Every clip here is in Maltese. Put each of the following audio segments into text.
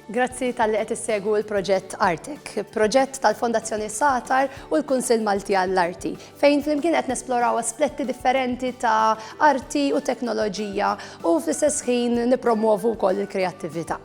Grazzi tal-li qed issegwu l-proġett Artek, proġett tal-Fondazzjoni Satar u l-Kunsill Malti għall-Arti, fejn flimkien qed nesploraw aspetti differenti ta' arti u teknoloġija u fl-istess ħin nippromwovu wkoll il-kreattività.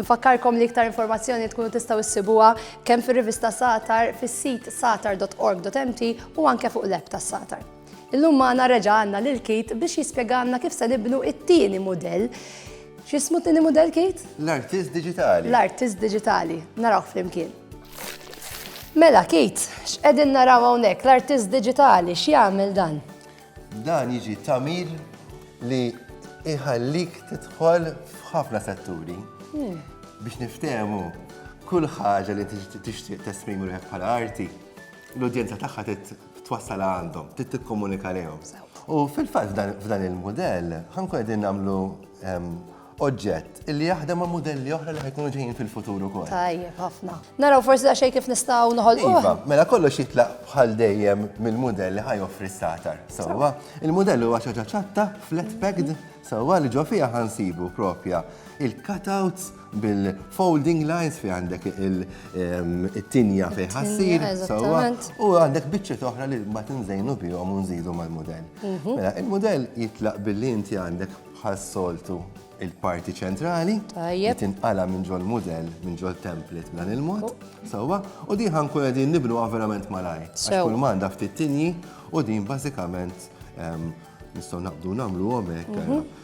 Infakkarkom li iktar informazzjoni tkunu tistgħu issibuha kemm fir-rivista Satar, fis-sit satar.org.mt u anke fuq l-app tas-Satar. Illum magħna reġa' għandna lil Keith biex jispjegalna kif se nibnu t-tieni mudell. X'ismu t-tieni mudell, Keith? L-artist diġitali. L-artist diġitali. Narawh flimkien. Mela, Keith, x'qegħdin naraw hawnhekk? L-artist diġitali, x'jagħmel dan? Dan jiġi tagħmir li iħallik tidħol f'ħafna setturi hmm. biex niftehmu kull ħaġa li tixtieq tesprimu ruħek bħala arti, l-udjenza tagħha twassala għandhom, trid tikkomunika lejhom. U fil-fatt f'dan il-mudell ħankun qegħdin nagħmlu ehm, oġġett illi jaħdem ma' modelli oħra li ħajkunu ġejjin fil-futur ukoll. Tajjeb, ħafna. Naraw forsi da xejn kif nistgħu noħolqu. Iva, mela kollox jitlaq bħal dejjem mill-mudell li ħajoffri s-satar. Sewwa, il-mudell huwa ċaċa ċatta, flat packed, sewwa li ġo fiha ħansibu propja il-cutouts bil-folding lines fi għandek il-tinja fi ħassir, u għandek bieċet oħra li ma tinżejnu bihom u nżidu mal-modell. Mhm. Mela, il-modell jitlaq billi inti għandek bħal soltu il-parti ċentrali, tinqala minn ġol model, minn ġol template b'dan il-mod, oh. sawa, u din ħankun għedin nibnu verament malaj. Kull manda ftit tinji u din bażikament nistgħu naqbdu nagħmlu għomek. Mhm.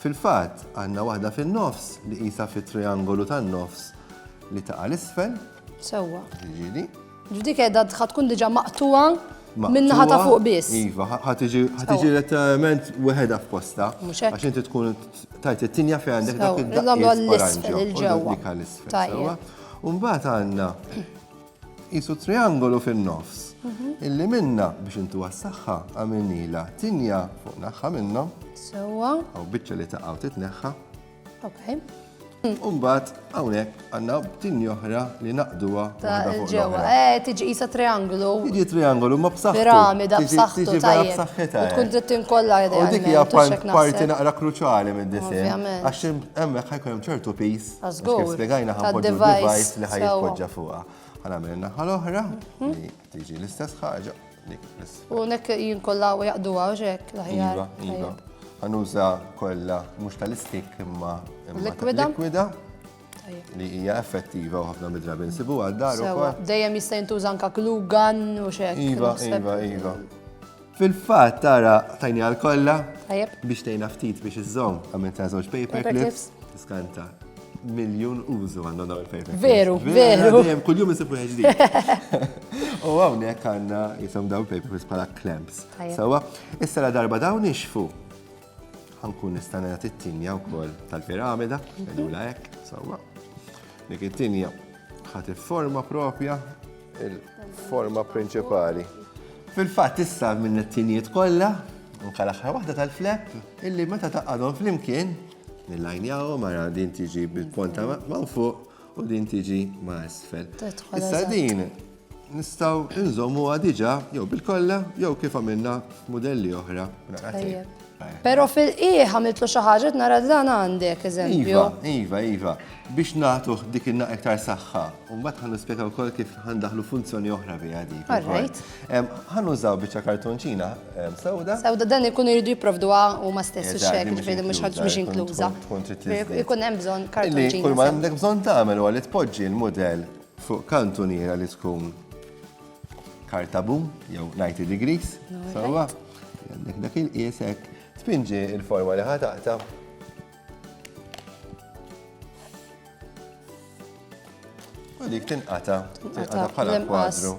Fil-fatt, għandna waħda fin-nofs li qisha fit-triangolu tan-nofs li taqa' 'l isfel. Sewwa. Jiġifieri. F'dik qiegħda ħa tkun diġà maqtugħa min-naħa ta' fuq biss. Iva, ħa tiġi letteralment weħedha f'postha. Mhux hekk. Għax inti tkun tajt it-tinja fejn għandek dak id-daqqiet. Nagħmlu għall-isfel, il-ġewwa. Dik għall-isfel. Tajjeb. U mbagħad għandna Qisu triangolu fin-nofs, illi minnha, biex intuha s-saħħa, għamilnilha tinja fuq naħħa minnha. Sewwa. Hawn biċċa li taqgħu titneħħa. Ok. U mbagħad hawnhekk għandna tinja oħra li naqduha waħda fuq ġewwa. Eh, tiġi qisha triangolu. Tiġi triangolu ma b'saħħtu. Piramida b'saħħtu. Tiġi b'saħħitha. Eh. Tkun trid tinkollha idea. U dik hija parti naqra kruċali minn disinn. Għax hemmhekk ħajkun hemm ċertu pis Kif spiegajna ħanpoġġu device li ħajpoġġa fuqha. Ħanamel naħa l-oħra, mhm. tiġi l-istess ħaġa. U nek jinkolla u jaqdu għawġek laħjar. Iva, iva. Għanuża kolla mux tal-istik imma likwida. Likwida. Li hija effettiva u ħafna midrabi nsibu għal dar. Dejjem jista' jintuża anka klugan u xek. Iva, iva, iva. Fil-fatt tara tajni għal kollha biex tgħinha ftit biex iżżomm għamil ta' żewġ paper clips tiskanta miljun użu għandna dawn il-paper. Veru, veru. Dejjem kuljum isib wieħed ġdid. U hawnhekk għandna jisom dawn paper bħala clamps. Sawa, issa la darba dawn ixfu ħankun nista' nagħti t-tinja wkoll tal-piramida, qegħdula hekk, sawa. Dik it-tinja ħadd forma propja Il-forma prinċipali. Fil-fatt issa minn it-tinijiet kollha, anke l-aħħar waħda tal-flep, illi meta taqadhom flimkien, nillajnjawhom mara din tiġi bil-ponta ma' fuq u din tiġi ma' isfel. Issa din nistaw nżommu għadġa jew bil-kolla jew kif għamilna modelli oħra. Pero fil-qieħ għamiltlu xi ħaġa nara dan għandek eżempju. Iva, iva, iva. Biex nagħtuh dik inna iktar saħħa, u mbagħad ħan nispjega wkoll kif ħandaħlu funzjoni oħra bi għadi. Alright. Ħan użaw biċċa kartonċina sewda. Sewda dan ikun iridu jipprovdu u ma stess xek, ġifieri mhux ħadd mhux inkluża. Ikun hemm bżonn kartonċina. Kull ma għandek bżonn tagħmel huwa li tpoġġi l-mudell fuq kantuniera li tkun Kartabu, jew 90 degrees, sawa, għandek dak il-qiesek, tpinġi il-forma li ħataqta. U dik tinqata, tinqata bħala kwadru.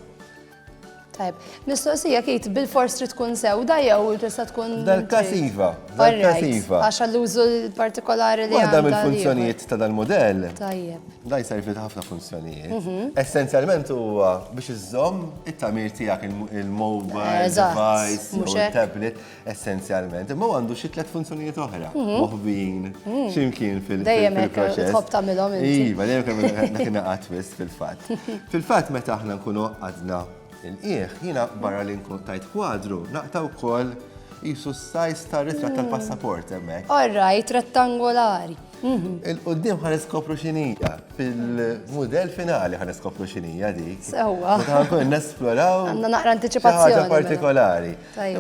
Tajb, mistoqsija kit bil-fors trid tkun sewda jew tista' tkun. Dal-kasiva, dal-kasiva. Għax għall-użu partikolari li. Waħda mill-funzjonijiet ta' dal-modell. Tajjeb. Dan jservi ta' ħafna funzjonijiet. Mhm. Essenzjalment huwa biex iżżomm it-tamir tiegħek il-mobile, device, u tablet, essenzjalment. Imma għandu xi tliet funzjonijiet oħra. Mhm. Moħbin, mhm. ximkien fil-proċess. Dejjem hekk tħobb tagħmilhom inti. Iva, dejjem kemm dak ingħaqad biss fil-fatt. Fil-fatt meta aħna nkunu għadna il-qieħ, jiena barra li nkun tajt kwadru, naqta' wkoll jisu s-sajs ta' ritrat tal-passaport hemmhekk. All right, rettangolari. Mhm. Il-qoddim ħan iskopru xinija, fil-model finali ħan iskopru xinija dik. Sewa. Ħan kun nesploraw. Għanna naqra anticipazzjoni. Ħaġa mela. partikolari.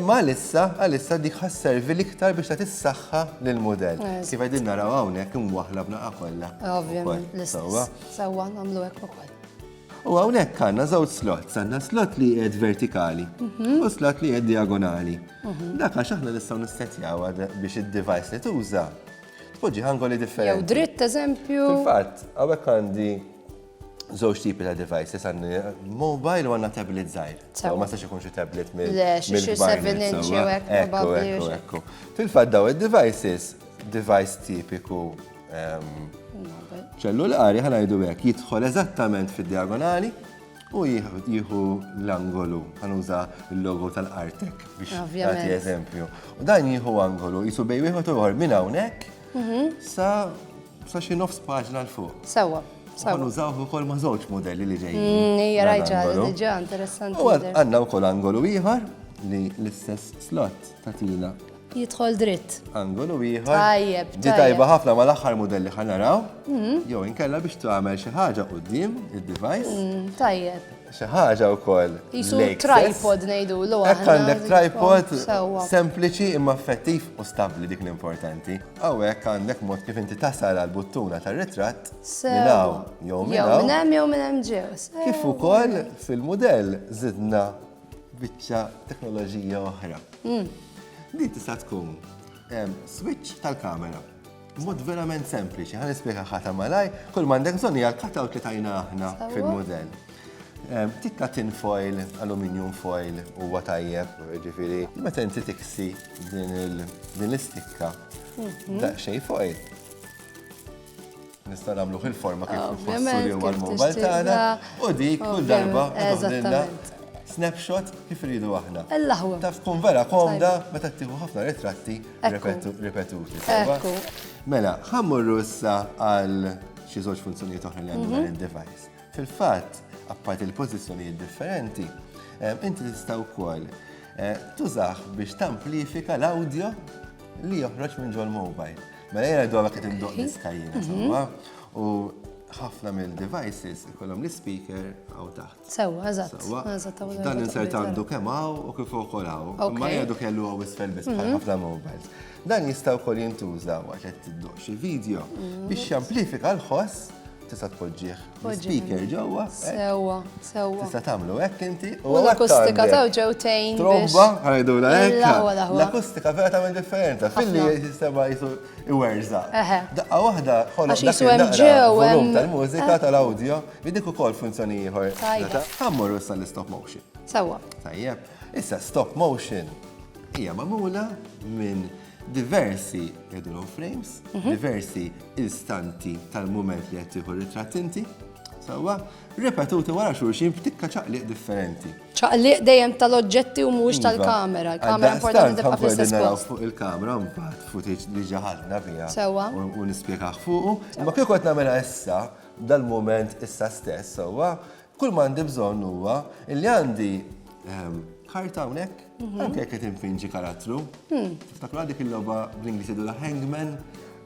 Ma lissa, għalissa dik ħas servi liktar biex ta' tissaxħa l-model. Kif għedin naraw għawnek imwaħla b'naqqa kolla. Ovvijament, l-sewa. Sewa, namlu ekku kolla. U għawnek għanna zawt slot, għanna slot li jgħed vertikali mhm. u slot li jgħed diagonali. Mhm. Dak għax aħna nistaw nistetjaw biex id-device li tuża Tpoġġi angoli differenti. Jew dritt eżempju. Fil-fatt, hawnhekk għandi żewġ tipi ta' devices għandi mobile u għandna tablet żgħir. Ma sax ikun xi tablet minn. Le, xi 7 inch jew hekk. Ekku, ekku, ekku. Fil-fatt daw id-devices, device tipiku ehm, ċellulari ħanajdu hekk jidħol eżattament fid-diagonali U jieħu l-angolu, għanuża l-logo tal-Artek biex jagħti eżempju. U dan jieħu angolu, jisu bej wieħed u ieħor minn hawnhekk mhm. sa sa xi nofs paġna l fuq. Sewwa. Għan użawh ukoll ma' żewġ modelli li ġejjin. Mm, hija rajġa, diġà interessanti. U għandna wkoll angolu ieħor li l-istess slot tatina Jidħol dritt. Angolu ieħor. Tajjeb. Di tajba ħafna ma l-aħħar modelli ħan naraw. Mm. Jew inkella biex tagħmel xi ħaġa qudiem id-device. Mm, tajjeb. Xi ħaġa wkoll. Isu tripod ngħidu l Hekk għandek tripod sempliċi imma effettiv u stabbli dik l-importanti. Hawnhekk għandek mod kif inti tasal għal buttuna tar-ritratt minnaw jew minnaw. Jew minn hemm jew minn hemm ġew. Kif ukoll fil-mudell żidna biċċa teknoloġija oħra. Din tista' tkun switch tal-kamera. Mod verament sempliċi, ħan nispjega ħata malaj, kull mandek bżonn hija l-cutout li tajna aħna fil-modell. Tikka tin foil, aluminium foil, huwa tajjeb, ġifieri, meta inti tiksi din l-istikka, mhm. daqsxejn foil. Nistgħu nagħmluh il-forma kif nfasslu għal mobile tagħna u dik kull darba tagħmilna snapshot kif iridu aħna. Taf tkun vera komda meta tieħu ħafna ritratti ripetuti. Mela, ħammurru issa għal xi żewġ funzjonijiet oħra li għandu dan id-device. Fil-fatt, apparti l-pożizzjonijiet differenti, inti tista' wkoll tużaħ biex tamplifika l-audio li joħroġ minn ġol mobile. Mela jena d-dola kħed indoq diska jena, mhm. sawa. U ħafna minn devices ikollhom l-speaker għaw taħt. Sewa, eżatt. Dan insert għandu kemm għaw u kif ukoll għaw. Ma jgħadu kellu għaw isfel biss bħal mhm. ħafna mobiles. Dan jista' wkoll jintuża waqt qed tiddoq xi video mhm. biex jamplifika l-ħoss tista' tpoġġih Speaker ġewwa. Sewwa, sewwa. Tista' tagħmlu hekk inti u l-akustika taw ġew tgħin. Tromba, ħajdu la hekk. L-akustika vera tagħmel differenza. Filli jistema jisu iwerża. Daqqa waħda ħolok dak il-volum tal-mużika tal-awdjo li dik ukoll funzjoni ieħor. Ħammur issa l-stop motion. Sewwa. Tajjeb. Issa stop motion hija magħmula minn diversi idolo frames, diversi istanti tal-mument li qed tieħu ritratt inti, sewwa, ripetuti wara xulxin f'tikka ċaqliq differenti. ċaqliq dejjem tal-oġġetti u mhux iva. tal-kamera. Il-kamera importanti tibqa' fl-istess post. fuq il-kamera mbagħad footage li ġaħadna fiha. Sewwa. U nispjegah fuqu. Imma kieku qed nagħmilha issa dal-mument issa stess, sewwa, Kull ma għandi bżonn huwa li għandi ehm, karta hawnhekk, mhm. anke jekk qed infinġi karattru. Hmm. Tiftakru dik il-logħba bl-Ingliż jgħidu la Hangman,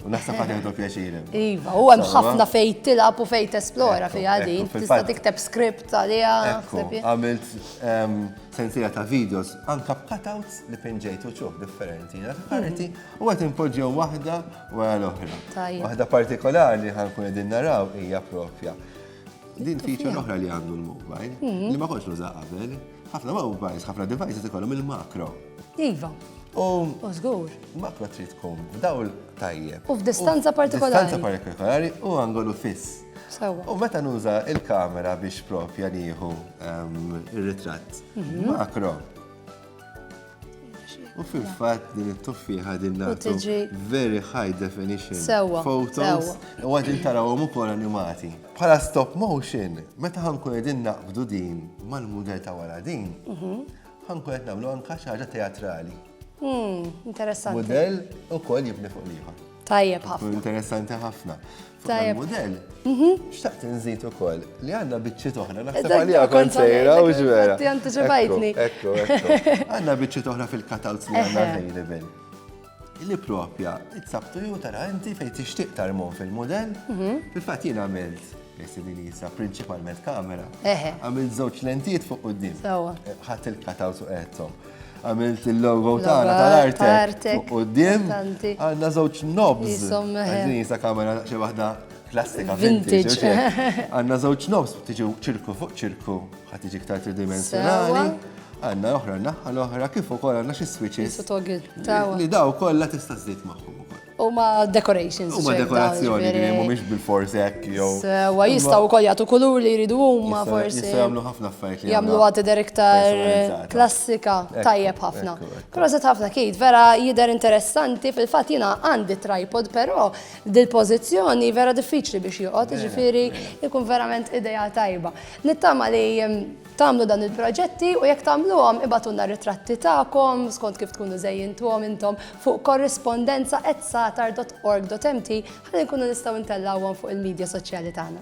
u naħseb ħadd jgħidu pjaċir. Iva, u hemm ħafna fejn tilab u fejn tesplora fi din, tista' tikteb script għaliha. Għamilt ehm, sensiela ta' videos anke b'cutouts li pinġejt u ċuħ differenti, karti, hmm. u qed inpoġġew waħda wara l-oħra. Waħda partikolari ħankun qegħdin naraw hija propja Din feature l-oħra li għandu l-mobile, mhm. li ma konx nuża qabel, ħafna mobiles, ħafna devices ikollhom il-makro. Iva. U żgur. Makro trid tkun dawl tajjeb. U f'distanza partikolari. Distanza partikolari u angolu fiss. U meta nuża il-kamera biex propja nieħu ehm, ir-ritratt mhm. makro, U fil-fat din it-tuffiħa din nagħtu very high definition photos u għadin tarawhom ukoll animati. Bħala stop motion, meta ħankun qegħdin naqbdu din mal-mudell ta' wara din, mhm. ħankun qed nagħmlu anka xi ħaġa teatrali. Hmm, interessanti. Mudell ukoll jibni fuq liħor. Tajjeb ħafna. Interessanti ħafna. Tajjeb. Model. Mhm. Xtaqt nżid ukoll li għandna biċċiet oħra naħseb għalija kont sejra u ġvera. Ti antiċipajtni. Ekku, ekku. Għandna biċċiet oħra fil-katals li għandna available. Li propja, it-sabtu ju tara inti fejn tixtieq tarmon fil-model, mhm. fil-fatt jien għamilt Jessa principalment kamera. Għamilt żewġ lentijiet fuq qudiem. Ħadd il-katals u qedhom. għamilt il-logo tagħna tal-artek. U d-dim għandna żewġ nobs. Għażin jisa kamera xi waħda klassika vintage. Għandna żewġ nobs tiġi ċirku fuq ċirku ħadd tiġi iktar tridimensjonali. Għandna oħra naħħa l-oħra kif ukoll għandna xi switches. Li daw kollha tista' żżid magħhom ukoll. Huma decorations. Huma dekorazzjoni li mhumiex bil-fors hekk jew. Sewa jistgħu wkoll jagħtu kulur li jridu huma forsi. Jistgħu jagħmlu ħafna affarijiet li jagħmlu għad tidher iktar klassika tajjeb ħafna. Proset ħafna kid, vera jidher interessanti fil-fatt jiena għandi tripod però dil-pożizzjoni vera diffiċli biex joqgħod, jiġifieri jkun verament idea tajba. Nittama li Tagħmlu dawn il-proġetti u jekk tagħmluhom ibagħtulna r-ritratti tagħkom skont kif tkunu żejjintuhom intom fuq correspondenza@satar.org.mt ħalli nkunu nistgħu ntellgħuhom fuq il-midja soċjali tagħna.